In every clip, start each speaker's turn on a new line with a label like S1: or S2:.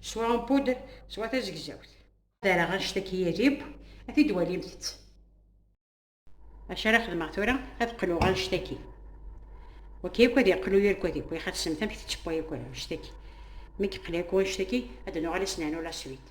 S1: swa en poudre swa tazegzawt ara anect-a k-yirib ad t-id-walimt-tt acu ara xedmeɣ tura ad qluɣ anect-aki waki akk ad yeqlu yir kod akk yaxat semt amek tettewwa yakk anect-aki mi yeqla yakk anect-aki ad nuɣal as-nernu la suite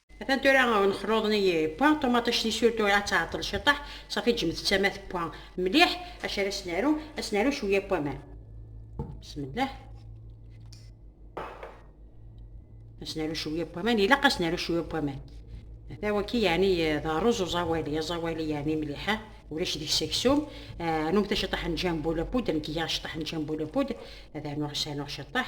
S1: Atan tura nexluḍen i pwa, ṭumaṭict i sur tura ad tɛeṭṭel ciṭaḥ, safi ǧǧemt-tt ama tewwa mliḥ, acu ara s-naru, ad s-naru cwiya n waman. Bismillah. Ad s-naru cwiya n waman, ilaq ad s-naru cwiya n waman. Ata waki yeɛni d rruz uẓawali, aẓawali yeɛni mliḥ, ulac deg-s aksum. Anumta ciṭaḥ n ǧambul apud, nekk giɣ ciṭaḥ n ǧambul apud, ad anuɣ s anuɣ ciṭaḥ.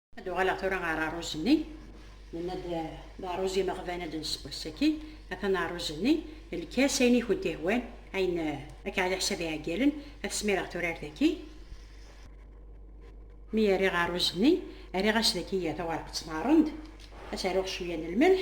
S1: ad uɣaleɣ tura ɣer ṛṛuz-nni nenna-d d ṛṛuz imeɣban ad nessew ass-agi atan ṛṛuz-nni lkas ayen i kent-ihwan ayen akka ɛad iḥsab iɛeggalen ad smireɣ tura ar daki mi rriɣ ṛṛuz-nni rriɣ-as daki tawareqt n ṛṛend ad s-aruɣ cwiya n lmelḥ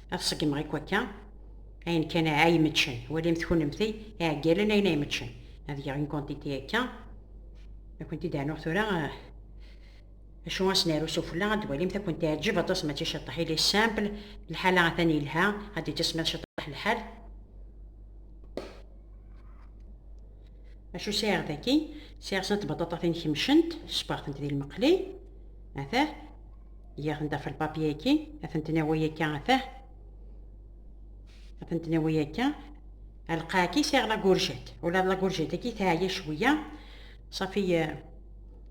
S1: Ad ṣeggmeɣ i kwakka ayen kan ay imetcen. Walimt kunemti iɛeggalen ayen ay imetcen. Ad geɣ une quantité akka. Ad kent-id ɛnuɣ tura eh, acu as naru sufella ad walimt ad kent-iɛeǧǧeb aṭas mačči ciṭṭaḥ. Il est simple, lḥala atan yelha, ad d-itismiḍ ciṭṭaḥ lḥal. Acu sɛiɣ daki? Sɛiɣ snat tbaṭaṭatin kemcent, sbeɣ-tent di lmeqli. Atah. Yak n dafel papyaki, ad ten-nawi akka atah. Ad ten-nawi akka. Alqaaki siɣ la gurjet. Ula la gurjet aki teɛya cwiya. Safi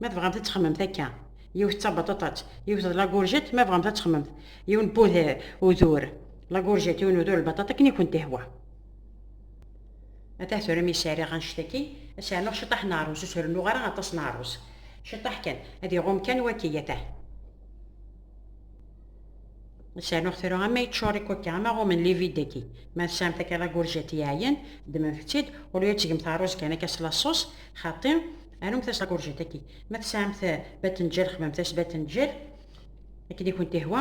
S1: ma tebɣamt ad txemmemt akka. Yiwet d tabaṭaṭat, yiwet d la gurjet ma tebɣamt ad txemmemt. Yiwen n udur la gurjet, yiwen n udur lbaṭaṭa akken i kent-ihwa. Atah tura mi sariɣ annect-agi, ad sɛernuɣ ciṭaḥ n ṛṛuz, ur s-rennuɣ ara aṭas n ṛṛuz. Ciṭaḥ kan, ad iɣum kan waki, atah. Ad sɛernuɣ tura ama yeččur ikukka, ama ɣumen livide-agi. Ma tesɛam takiḍa n urjat yeɛyan, ddmemt-tt-id, au lieu ad tgemt ṛṛuz kan akka s laṣus, xaṭi, arumt-as takiḍa n urjat-agi. Ma tesɛamt batenǧal, xedmemt-as batenǧal, akken i kent-ihwa.